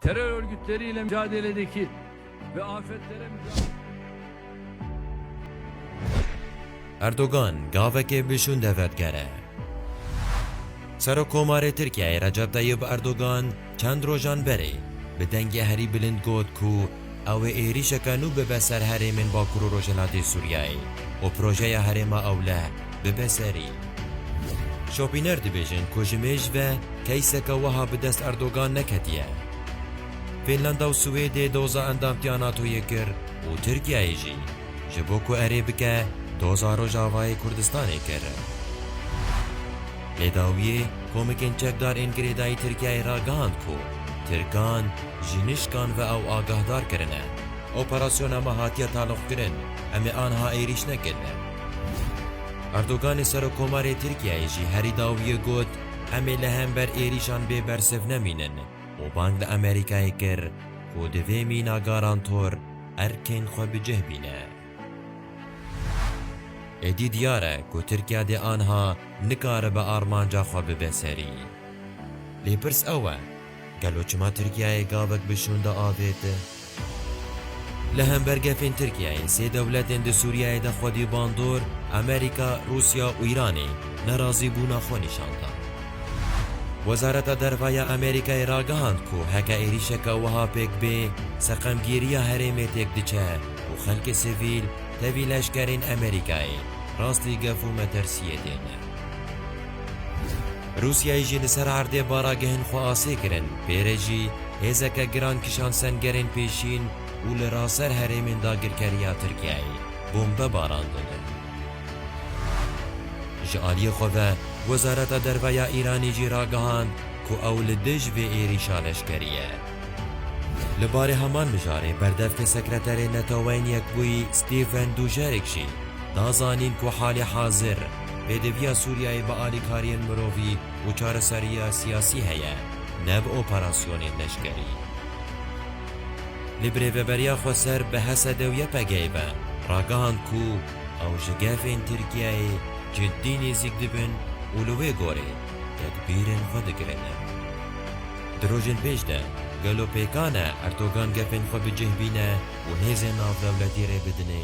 Terör örgütleriyle mücadeledeki ve afetlere mücadele... Erdogan gavekê bi şûnde vedgere. Serokomarê Tirkiyeyê Recep Tayyip Erdogan çend rojan berê bi dengê herî bilind got ku Ew ê êrîşeke nû bibe ser herêmên Bakur û Rojhilatê Sûriyeyê û projeya Herêma Ewleh bibe serî. Şopîner dibêjin ku ji mêj ve keyseke wiha bi dest Erdogan neketiye. Fînlanda û Swêdê doza endamtiya NATO'yê kir û Tirkiyeyê jî ji bo ku erê bike doza Rojavayê Kurdistanê kir. Lê dawiyê komikên çekdar ên girêdayî Tirkiyeyê ragihand ku Tirkan ji nişkan ve ew agahdar kirine. Operasyona me hatiye taloqkirin, em ê anha êrîş nekin. Erdoganê Serokkomarê Tirkiyeyê jî herî dawiyê got, Em ê li hember êrîşan bê bersiv nemînin û bang li Amerîkayê kir ku di vê mîna garantor erkên xwe bi cih bîne. Êdî diyar e ku Tirkiye dê anha nikaribe armanca xwe bibe serî. Lê pirs ew e, gelo çima Tirkiyeyê gavek bi şûn de avêt? Li hember gefên Tirkiyeyê sê dewletên di Sûriyeyê de xwedî bandor, Amerîka, Rûsya û Îranê nerazîbûna xwe nîşan da. Wezareta Derve ya Amerîkayê ragihand ku heke êrîşeke wiha pêk bê, seqemgîriya herêmê têk diçe. û xelkê sivîl tevî leşkerên Amerîkayê rastî gef û metersiyê tê ne. Rûsyayê jî li ser erdê baragehên xwe asê kirin, pê re jî hêzeke giran kişand sengerên pêşîn û li raser herêmên dagirkeriya Tirkiyeyê bombe barandin. Ji aliyê xwe ve Wezareta Derve ya Îranê jî ragihand ku ew li dij vê êrîşa leşkerî ye. Li barê heman mijarê berdevkê sekreterê Neteweyên Yekbûyî Stephen Dujarric jî da zanîn ku halê hazir pêdiviya Sûriyeyê bi alîkariyên mirovî û çareseriya siyasî heye ne bi operasyonên leşkerî. Lê bi rêveberiya xweser bi Hesede û YPG'ê ve ragihand ku ew ji gefên Tirkiyeyê cidî nêzîk dibin û li wê gorê tedbîrên xwe digirînin. Di rojên pêş de, gelo pêkan e Erdogan gefên xwe bi cih bîne û hêzên navdewletî rê bidinê?